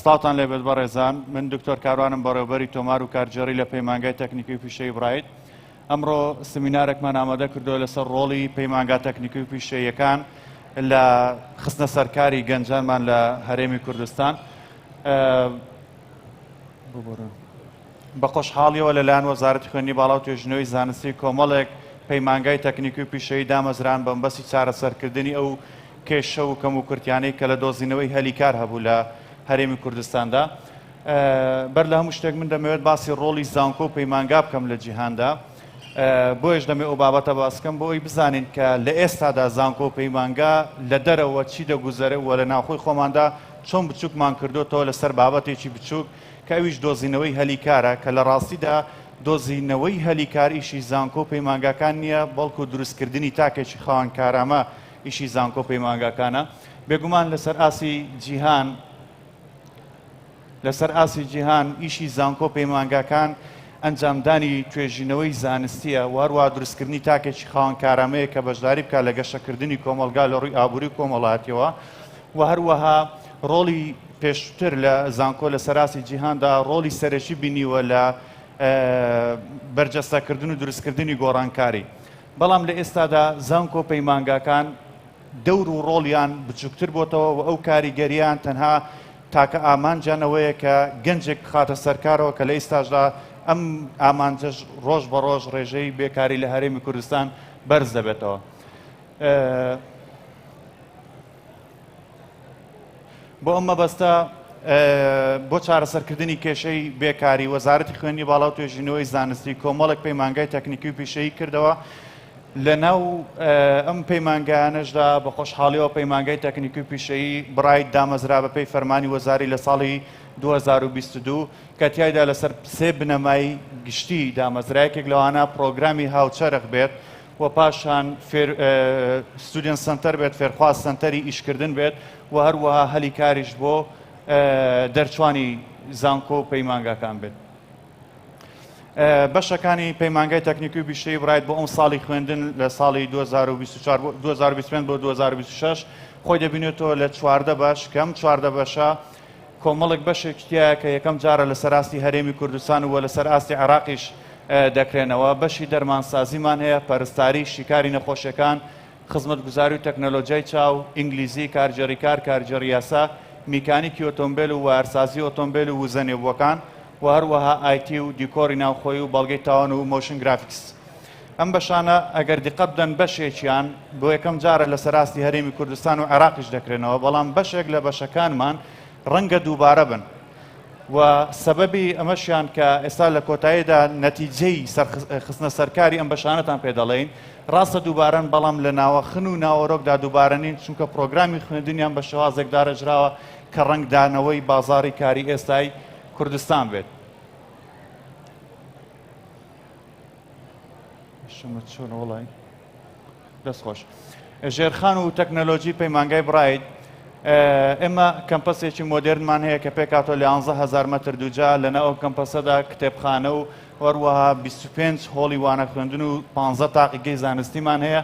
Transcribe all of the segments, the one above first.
سڵاوتان لێبێت بەڕێزان من دکتۆر کاروانم بەڕێوبەری تۆمار و کارگێڕی لە پەیمانگای تەکنیکی و پیشەی برایت ئەمڕۆ سمینارێکمان ئامادە کردو لەسەر ڕۆڵی پەیمانگا تەکنیکی و پیشەیەکان لە خستنە سەرکاری گەنجانمان لە هەرێمی کوردستان ببورن. بە خۆشحاڵییەوە لەلایەن وەزارەتی خوێندنی باڵا و توێژینەوەی زانستی کۆمەڵێک پەیمانگای تەکنیکی و پیشەیی دامەزران بەمەبەستی چارەسەرکردنی ئەو کێشە و کەموکورتیانەی کە لە دۆزینەوەی هەلی کار هەبوو لە هەرێمی کوردستاندا. بەر لە هەموو شتێک من دەمەوێت باسی ڕۆڵی زانکۆ و پەیمانگا بکەم لە جیهاندا. بۆیەش دەمێ ئەو بابەتە باس بکەم بۆ ئەوی بزانین کە لە ئێستادا زانکۆ و پەیمانگا لە دەرەوە چی دەگوزەرێ و لە ناوخۆی خۆماندا چۆن بچووکمان کردۆتەوە لەسەر بابەتێکی بچووک کە ئەویش دۆزینەوەی هەلی کارە، کە لە ڕاستیدا دۆزینەوەی هەلی کار ئیشی زانکۆ و پەیمانگاکان نییە، بەڵکو دروستکردنی تاکێکی خاوەن کارامە ئیشی زانکۆ و پەیمانگاکانە. بێگومان لەسەر ئاستی جیهان لەسەر ئاستی جیهان ئیشی زانکۆ و پەیمانگاکان ئەنجامدانی توێژینەوەی زانستییە و هەروەها دروستکردنی تاکێکی خاوەن کارامەیە کە بەشداری بکات لە گەشەکردنی کۆمەڵگا لە ڕووی ئابووری و کۆمەڵایەتییەوە و هەروەها ڕۆڵی پێشووتر لە زانکۆ لە سەراسی جیهاندا ڕۆڵی سەرەکی بینیوە لە بەرجەستەکردن و دروستکردنی گۆڕانکاری بەڵام لە ئێستادا زانکۆ و پەیمانگاکان دەور و ڕۆڵیان بچووکتر بۆتەوە و ئەو کاریگەریان تەنها تاکە ئامانجانەوەیە کە گەنجێک بخاتە سەرکارەوە کە لە ئیستاشدا ئەم ئامانجەش ڕۆژ بە ڕۆژ ڕێژەی بێکاری لە هەرێمی کوردستان بەرز دەبێتەوە. بۆ ئەم مەبەستە بۆ چارەسەرکردنی کێشەی بێکاری وەزارەتی خوێنی باڵا و توێژینەوەی زانستی کۆمەڵێک پەیمانگای تەکنیکی و پیشەیی کردەوە لە ناو ئەم پەیمانگانەشدا بە خۆشحاڵیەوە پەیمانگای تەکنیکی و پیشەیی برایت دامەزرا بە پێی فەرمانی وەزاری لە ساڵی 2022 کە تایدا لەسەر سێ بنەمای گشتی دامەزرایەکێک لەوانە پرۆگرامی هاوچەرخ بێت و پاشان فێر ستودێنت سەنتەر بێت، فێرخواز سەنتەری ئیشکردن بێت و هەروەها هەلی کاریش بۆ دەرچوانی زانکۆ و پەیمانگاکان بێت. بەشەکانی پەیمانگای تەکنیکی و بیشەی برایت بۆ ئەم ساڵی خوێندن لە ساڵی 2025 بۆ 2026 خۆی دەبینێتەوە لە چواردە بەش کەم چواردە بەشە کۆمەڵێک بەشێکی تیایە کە یەکەم جارە لەسەر ئاستی هەرێمی کوردستان و لەسەر ئاستی عێراقیش دەکرێنەوە، بەشی دەرمانسازیمان هەیە، پەرستاری، شیکاری نەخۆشیەکان، خزمەتگوزاری و تەکنەلۆجیای چاو، ئینگلیزی، کارگێڕی کار، کارگێڕی یاسا، میکانیکی ئۆتۆمبێل و وایەرسازی ئۆتۆمبێل و وزە نێبووەکان و هەروەها ئایتی و دیکۆری ناوخۆیی و بەڵگەی تاوان و مۆشن گرافیکس. ئەم بەشانە ئەگەر دیقەت بدەن بەشێکیان بۆ یەکەم جارە لە سەراستی هەرێمی کوردستان و عێراقیش دەکرێنەوە بەڵام بەشێک لە بەشەکانمان ڕەنگە دووبارە بن و سەبەبی ئەمەشیان کە ئێستا لە کۆتاییدا نەتیجەی خستنە سەرکاری ئەم بەشانەتان پێ دەڵێین ڕاستە دووبارەن بەڵام لە ناوەخن و ناوەرۆکدا دووبارە نین چونکە پرۆگرامی خوێندنیان بە شێوازێک دارەژراوە کە ڕەنگدانەوەی بازاری کاری ئێستای کوردستان بێت دەستخۆش ژێرخان و تەکنەلۆژی پەیمانگای برایت ئێمە کەمپەسێکی مۆدررنمان هەیە کە پێکاتۆ لە 11هزار مەتر دوجا لەنا ئەو کەمپەسەدا کتێبخانە و هەروەها 25 هۆڵی وانە خوێندن و 15 تاقیگەی زانستیمان هەیە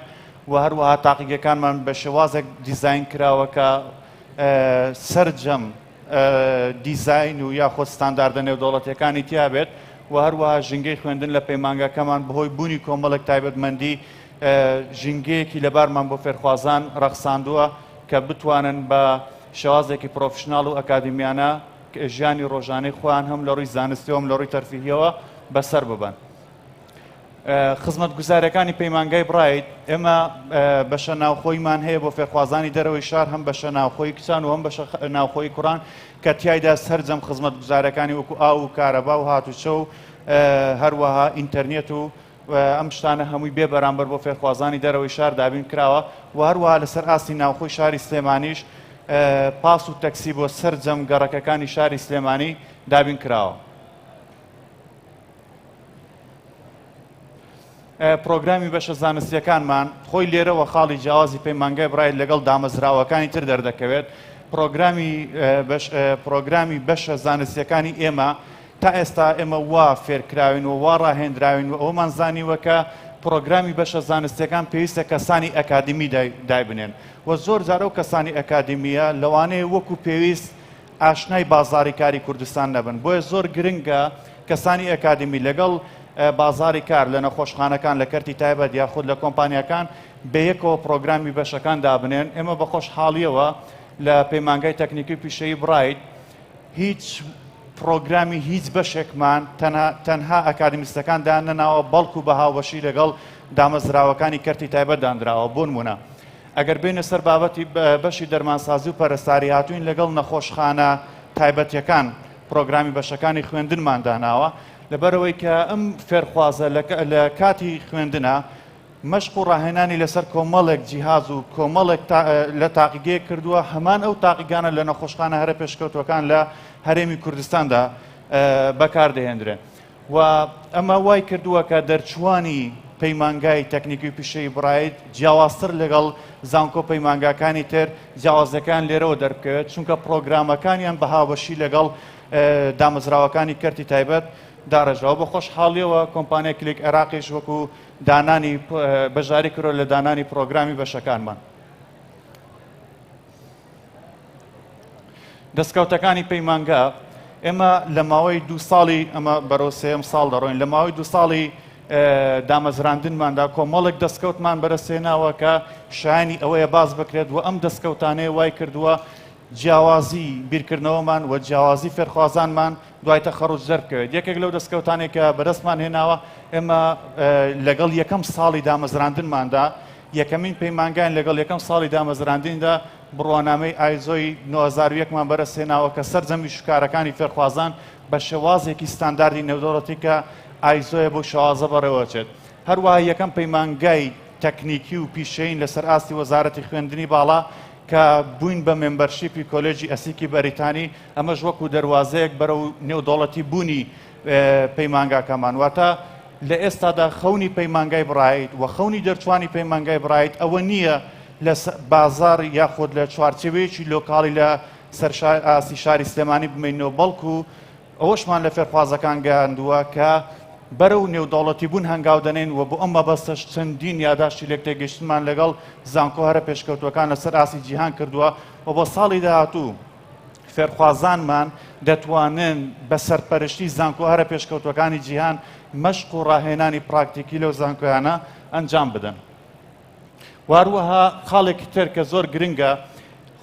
و هەروەها تاقیگەکانمان بە شێوازێک دیزین کراوە کە سرجەم دیزاین و یاخۆ ستانداردە نێودەوڵەتیەکانی تیابێت و هەروەها ژینگەی خوێندن لە پەیمانگاکەمان بەهۆی بوونی کۆمەڵێک تایبەتمەندی ژینگەیەکی لەبارمان بۆ فێرخوازان ڕەخساندووە کە بتوانن بە شێوازێکی پرۆفشنناڵ و ئەکادمیانە ژیانی ڕۆژانەی خۆیان هەم لە ڕووی زانستیەوەم لە ڕووی تەرفیهیەوە بەسەر ببن خزمەتگوزارەکانی پەیمانگای برایت ئێمە بەشە ناوخۆیمان هەیە بۆ فێرخوازانی دەرەوەی شار هەم بەشە ناوخۆی کچان و هەم بەشە ناوخۆی کوڕان کە تایدا سرجەم خزمەتگوزارەکانی وەکو ئاو و کارەبا و هاتوچە و هەروەها ئینتەرنێت و ئەم شتانە هەمووی بێ بەرامبەر بۆ فێرخوازانی دەرەوەی شار دابین کراوە و هەروەها لەسەر ئاستی ناوخۆی شاری سلێمانیش پاس و تەکسی بۆ سرجەم گەڕەکەکانی شاری سلێمانی دابین کراوە. پرۆگرامی بەشە زانستیەکانمان خۆی لێرەوە خاڵی جیاوازی پەیمانگای برایت لەگەڵ دامەزراوەکانی تر دەردەکەوێت پرۆگرامی پرۆگرامی بەشە زانستیەکانی ئێمە تا ئێستا ئێمە وا فێرکراوین و وا ڕاهێنراوین و ئەومان زانیوە کە پرۆگرامی بەشە زانستیەکان پێویستە کەسانی ئەکادمی دایبنێن و زۆر جارە و کەسانی ئەکادمیە لەوانەیە وەکو پێویست ئاشنای بازاری کاری کوردستان نەبن، بۆیە زۆر گرنگە کەسانی ئەکادیمی لەگەڵ بازاری کار لە نەخۆشخانەکان لە کەرتی تایبەت یاخود لە کۆمپانیاکان بەیەکەوە پرۆگرامی بەشەکان دابنێن، ئێمە بە خۆشحاڵیەوە لە پەیمانگای تەکنیکی و پیشەیی برایت هیچ پرۆگرامی هیچ بەشێکمان تەنها ئەکادیمیستەکان داننەناوە بەڵکو بە هاوبەشی لەگەڵ دامەزراوەکانی کەرتی تایبەت دانراوە، بۆنمونە. ئەگەر بێینە سەر بابەتی بەشی دەرمانسازی و پەرستاری هاتووین لەگەڵ نەخۆشخانە تایبەتیەکان پرۆگرامی بەشەکانی خوێندنمان داناوە لەبەرەوەی کە ئەم فێرخوازە لە کاتی خوێندنە مەشق و ڕاهێنانی لەسەر کۆمەڵێک جیهاز و کۆمەڵێک لە تاقیگەیە کردووە هەمان ئەو تاقیگانە لە نەخۆشخانە هەرە پێشکەوتوەکان لە هەرێمی کوردستاندا بەکاردەهێنرێن. و ئەمە وای کردووە کە دەرچووانی پەیمانگای تەکنیکی و پیشەی برایت جیاوازتر لەگەڵ زانکۆ پەیمانگاکانی تر جیاوازەکان لێرەوە دەربکەوێت چونکە پرۆگرامەکانیان بە هاوبەشی لەگەڵ دامەزراوەکانی کەرتی تایبەت داڕێژەوە بە خۆشحاڵیەوە کۆمپانیا کلیک عێراقیش وەکو دانانی بەژاری کرۆ لە دانانی پرۆگرامی بەشەکانمان. دەستکەوتەکانی پەیمانگا ئێمە لە ماوەی دو ساڵی ئەمە بەرەو سێم ساڵ دەڕۆین لە ماوەی دو ساڵی دامەزراندنماندا کۆمەڵک دەستکەوتمان بەرەسێناوە کە شایانی ئەوەیە باز بکرێت و ئەم دەستکەوتانەیە وای کردووە جیاوازی بیرکردنەوەمان و جیاوازی فێرخوازانمان دوای تەخەڕوج دەربکەوێت یەکێک لەو دەستکەوتانێک کە بەدەستمان هێناوە ئێمە لەگەڵ یەکەم ساڵی دامەزراندنماندا یەکەمین پەیمانگایان لەگەڵ یەکەم ساڵی دامەزراندنیدا بڕوانامەی ئایزۆی نۆ هەزار و یەک مان بەرەسهێناوە کە سەرجەمی شوکارەکانی فێرخوازان بە شێوازێکی ستانداردی نێودەوڵەتی کە ئایزۆیە بەو شێوازە بەڕێوەچێت هەروەها یەکەم پەیمانگای تەکنیکی و پیشەیین لەسەر ئاستی وەزارەتی خوێندنی باڵا کە بووین بە مێمبەرشیپی کۆلێجی ئەسیکی بەریتانی ئەمەش وەکو دەروازەیەک بەرەو نێودەوڵەتی بوونی پەیمانگاکەمان، واتە لە ئێستادا خەونی پەیمانگای برایت و خەونی دەرچوانی پەیمانگای برایت ئەوە نییە لە بازاڕ یاخود لە چوارچێوەیەکی لۆکاڵی لە سەر ئاستی شاری سلێمانی بمینەوە بەڵکو ئەوەشمان لە فێرخوازەکان گەیاندووە کە بەرە و نێودەوڵەتی بوون هەنگاو دەنین و بۆ ئەم مەبەستەش چەندین یاداشتی لێک تێگەشتمان لەگەڵ زانکۆ هەرە پێشکەوتوەکان لەسەر ئاسی جیهان کردووە و بۆ ساڵی داهاتوو فێرخوازانمان دەتوانن بە سەرپەرشتی زانکۆ هەرە پێشکەوتوەکانی جیهان مەشق و ڕاهێنانی پراکتیکی لەو زانکۆیانە ئەنجام بدەن. واروەها خاڵێکی تر کە زۆر گرنگە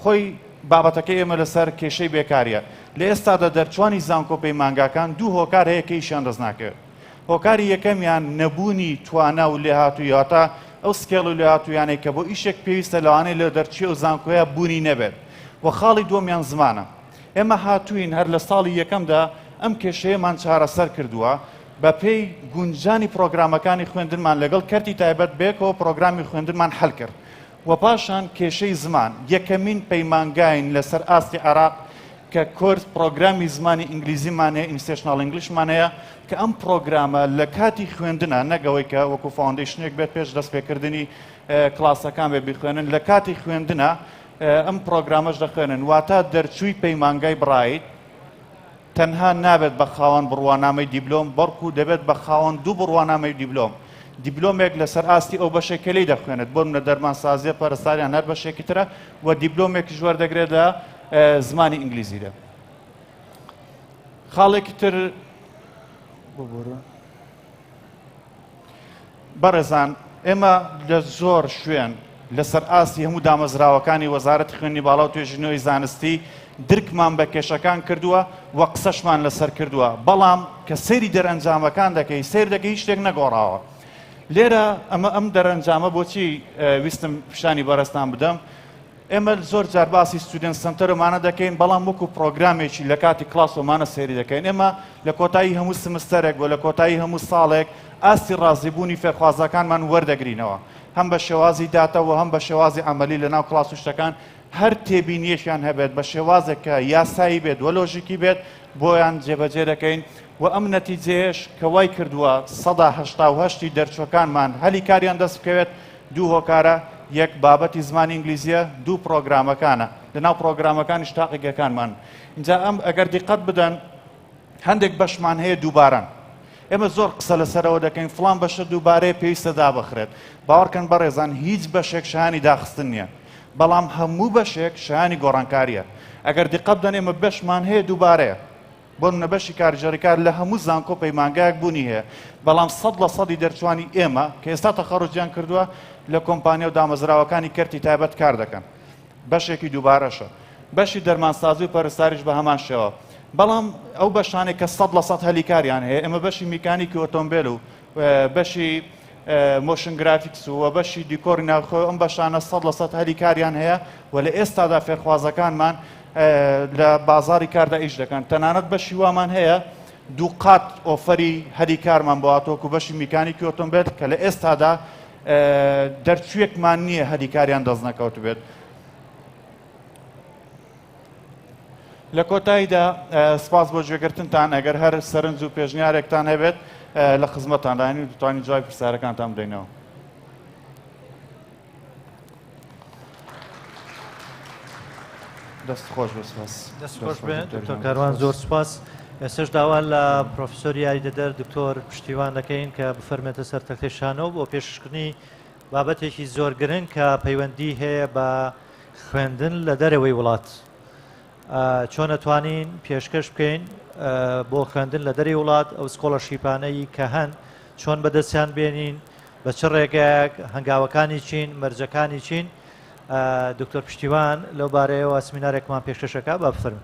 خۆی بابەتەکە ئێمە لەسەر کێشەی بێکاریە لە ئێستادا دەرچوانی زانکۆ پەیمانگاکان دوو هۆکار هەیە کە ئیشیان دەست ناکەوێت هۆکاری یەکەمیان نەبوونی توانا و لێهاتووی واتە ئەو سکێڵ و لێهاتوویانەی کە بۆ ئیشێک پێویستە لەوانەیە لە دەرچوی ئەو زانکۆیە بوونی نەبێت و خاڵی دووەمیان زمانە ئێمە هاتووین هەر لە ساڵی یەکەمدا ئەم کێشەیەمان چارەسەر کردووە بەپێی گونجانی پرۆگرامەکانی خوێندنمان لەگەڵ کەرتی تایبەت بێکەوە پرۆگرامی خوێندنمان حل کرد و پاشان کێشەی زمان یەکەمین پەیمانگاین لەسەر ئاستی عێراق کە کۆرس پڕۆگرامی زمانی ئینگلیزیمان هەیە ئینستێشناڵ ئینگلیشمان هەیە کە ئەم پڕۆگرامە لە کاتی خوێندنا نەگەوەی کە وەکو فاوندیشنێک بێت پێش دەست پێکردنی کلاسەکان بێ بیخوێنن لە کاتی خوێندنا ئەم پڕۆگرامەش دەخوێنن واتا دەرچووی پەیمانگای بڕایت تەنها نابێت بە خاوەن بڕوانامەی دیبلۆم، بەڵکو دەبێت بە خاوەن دوو بڕوانامەی دیبلۆم. دیبلۆمێک لەسەر ئاستی ئەو بەشەی کە لێی دەخوێنێت، بۆ نمونە دەرمانسازییە، پەرستاری یان هەر بەشێکی ترە و دیبلۆمێکیش وەردەگرێت لە زمانی ئینگلیزیدا. خاڵێکی تر ببورە. بەڕێزان ئێمە لە زۆر شوێن لەسەر ئاستی هەموو دامەزراوەکانی وەزارەتی خوێنی باڵا و توێژینەوەی زانستی درکمان بە کێشەکان کردووە و قسەشمان لەسەر کردووە بەڵام کە سەیری دەرەنجامەکان دەکەی سیر دەکەی هیچ شتێک نەگۆڕاوە لێرە ئەمە ئەم دەرەنجامە بۆچی ویستم پیشانی بەرەستان بدەم ئێمە زۆر جار باسی ستودێنت سەنتەر و مانە دەکەین بەڵام وەکو پڕۆگرامێکی لە کاتی کڵاس و مانە سەیری دەکەین ئێمە لە کۆتایی هەموو سمستەرێک بۆ لە کۆتایی هەموو ساڵێک ئاستی ڕازیبوونی فێرخوازەکانمان وەردەگرینەوە هەم بە شێوازی داتە و هەم بە شێوازی ئەمەلی لە ناو کڵاس و شتەکان هەر تێبینیەکیان هەبێت بە شێوازێک کە یاسایی بێت وە لۆژیکی بێت بۆیان جێبەجێ دەکەین وە ئەم نەتیجەیەش کە وای کردووە سەدا هەشتا و هەشت ی دەرچووەکانمان هەلی کاریان دەست بکەوێت دوو هۆکارە، یەک بابەتی زمانی ئینگلیزیە، دوو پڕۆگرامەکانە، لە ناو پڕۆگرامەکانیش تاقیگەکانمان ئینجا ئەم ئەگەر دیقەت بدەن هەندێک بەشمان هەیە دووبارەن ئێمە زۆر قسە لەسەرەوە دەکەین فڵان بەشە دووبارەیە پێویستە دابخرێت باوەڕکەن بەڕێزان هیچ بەشێک شایانی داخستن نییە بەڵام هەموو بەشێک شایانی گۆڕانکارییە ئەگەر دیقەت بدەن ئێمە بەشمان هەیە دووبارەیە بۆ نمونە بەشی کارگێڕی کار لە هەموو زانکۆ و پەیمانگایەک بوونی هەیە، بەڵام سەد لە سەدی دەرچووانی ئێمە کە ئێستا تەخەڕوجیان کردووە لە کۆمپانیا و دامەزراوەکانی کەرتی تایبەت کار دەکەن، بەشێکی دووبارەشە. بەشی دەرمانسازی و پەرستاریش بە هەمان شێوە. بەڵام ئەو بەشانەی کە سەد لە سەد هەلی کاریان هەیە، ئێمە بەشی میکانیکی ئۆتۆمبێل و بەشی مۆشن گرافیکس و بەشی دیکۆری ناوخۆ ئەم بەشانە سەد لە سەد هەلی کاریان هەیە و لە ئێستادا فێرخوازەکانمان لە بازاری کاردا ئیش دەکەن تەنانەت بەشی وامان هەیە دوو قات ئۆفەری هەلی کارمان بۆ هاتۆک و بەشی میکانیکی ئۆتۆمبێت کە لە ئێستادا دەرچوویەکمان نییە هەلی کاریان دەست نەکەوت بێت لە کۆتاییدا سپاس بۆ گوێگرتنتان ئەگەر هەر سەرنج و پێشنیارێکتان هەبێت لە خزمەتان داین و دوتوانین جوای پرسیارەکانتان بدەینەوە. دەست خۆش بەسپاس دەست خۆش بێن دکتۆر کاروان زۆر سپاس ئێسش داوا لە پرۆفسۆر یاریدەدەر دکتۆر پشتیوان دەکەین کە بفەرمێتە سەر تەختەی شانەوە بۆ پێشکردنی بابەتێکی زۆر گرنگ کە پەیوەندی هەیە بە خوێندن لە دەرەوەی وڵات چۆن ئەتوانین پێشکەش بکەین بۆ خوێندن لە دەری وڵات ئەو سکۆڵە شیپانەی کە هەن چۆن بەدەستیان بێنین بە چ ڕێگەیەک هەنگاوەکانی چین مەرجەکانی چین دکتۆر پشتیوان لەو بارەیەوە سمینارێکمان پێشکەشەکە بە بفرم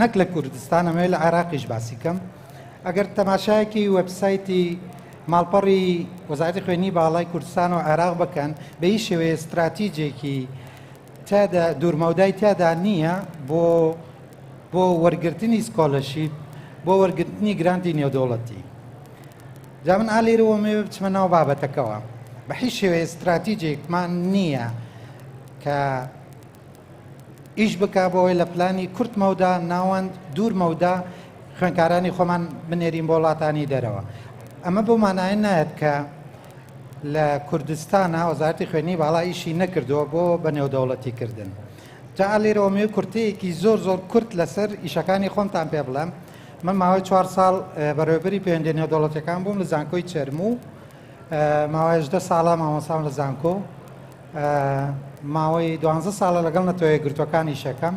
نەک لە کوردستان ئەمەوێت لە عێراقیش باسی کەم ئەگەر تەماشایەکی وەبسایتی ماڵپەڕی وەزارەتی خوێنی باڵای کوردستان و عێراق بکەن بە هیچ شێوەیە استراتیجێکی تیادا دوورمەودای تیادا نییە بۆ بۆ وەرگرتنی سکۆلەشیپ بۆ وەرگرتنی گرانتی نێودەوڵەتی جا من ئالێرەوە مێ بچمە ناو بابەتەکەەوە بە هیچ شێوەیە استراتیجێکمان نییە کە ئیش بکا بۆ ئەوەی لە پلانی کورت مەودا ناوەند دوور مەودا خوێنکارانی خۆمان بنێرین بۆ وڵاتانی دەرەوە ئەمە بۆ مانایە نایەت کە لە کوردستانە وەزارتی خوێنی باڵا ئیشی نەکردووە بۆ بە نێودەوڵەتی کردن جا لێرەوە مێ کورتەیەکی زۆر زۆر کورت لەسەر ئیشەکانی خۆمتان پێ بڵێم من ماوەی چوار ساڵ بەڕێوبەری پەیوەندی نێودەوڵەتەکان بووم لە زانکۆی چەرموو ماوەیش دە ساڵە مامۆسام لە زانکۆ ماوەی دوانزە ساڵە لەگەڵ نەتەوەیەکگرتووەکان ئیشەکەم،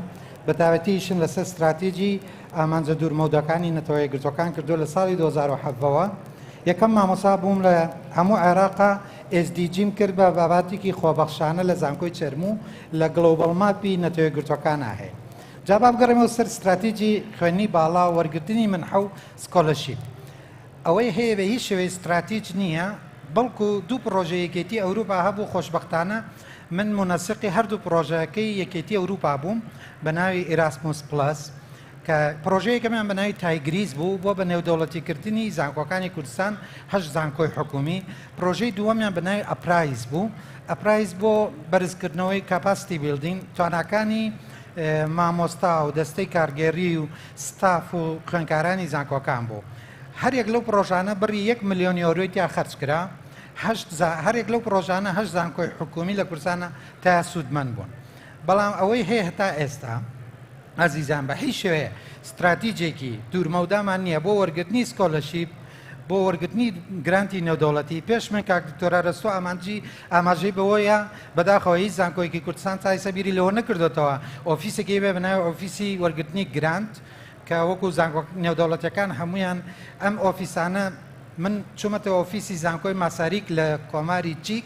بەتایبەتی ئیشم لەسەر ستراتیجی ئامانجە دوورمەوداکانی نەتەوەیەکگرتووەکان کردووە لە ساڵی دوو هەزار و حەڤدە وە یەکەم مامۆسا بووم لە هەموو عێراقا ئێسدیجیم کرد بە باباتیکی خۆبەخشانە لە زانکۆی چەرموو لە گڵۆبەڵ ماپی نەتەوەیەکگرتووەکانا هەیە جا با بگەڕێمەوە سەر ستراتیجی خوێندنی باڵا و وەرگرتنی منحە و سکۆلەرشیپ. ئەوەی هەیە بە هیچ شێوەیەک ستراتیج نییە، بەڵکو دوو پڕۆژەی یەکێتی ئەوروپا هەبوو، خۆشبەختانە من مونەسقی هەردوو پڕۆژەکەی یەکێتی ئەوروپا بووم بە ناوی ئیراسموس پڵەس، کە پڕۆژەی یەکەمیان بە ناوی تایگریس بوو بۆ بە نێودەوڵەتی کردنی زانکۆکانی کوردستان، هەشت زانکۆی حکوومی، پڕۆژەی دووەمیان بە ناوی ئەپرایز بوو، ئەپرایز بۆ بەرزکردنەوەی کاپاستی بیڵدینگ، تواناکانی مامۆستا و دەستەی کارگێڕی و. ستاف و خوێندکارانی زانکۆکان بوو هەریەک لەو پڕۆژانە بڕی یەک ملیۆن یۆرۆی تیا خەرجکرا هەشت زا هەرێک لەو پڕۆژانە هەشت زانکۆی حکومی لە کوردستانە تا سوودمەند بوون بەڵام ئەوەی هەیە هەتا ئێستا ئازیزان بە هیچ شێوەیە ستراتیجێکی دوورمەودامان نییە بۆ وەرگرتنی سکۆلەشیپ بۆ وەرگرتنی گرانتی نێودەوڵەتی پێش من کاک دکتۆر ئەرەستۆ ئامانجی ئاماژەی بەوەیە بەداخەوە هیچ زانکۆیەکی کوردستان تا ئێستا بیری لەوە نەکردوێتەوە ئۆفیسێکی بێ بە ناوی ئۆفیسی وەرگرتنی گرانت کە وەکو زانکۆ نێودەوڵەتیەکان هەمویان ئەم ئۆفیسانە من چوومەتە ئۆفیسی زانکۆی ماساریک لە کۆماری چیک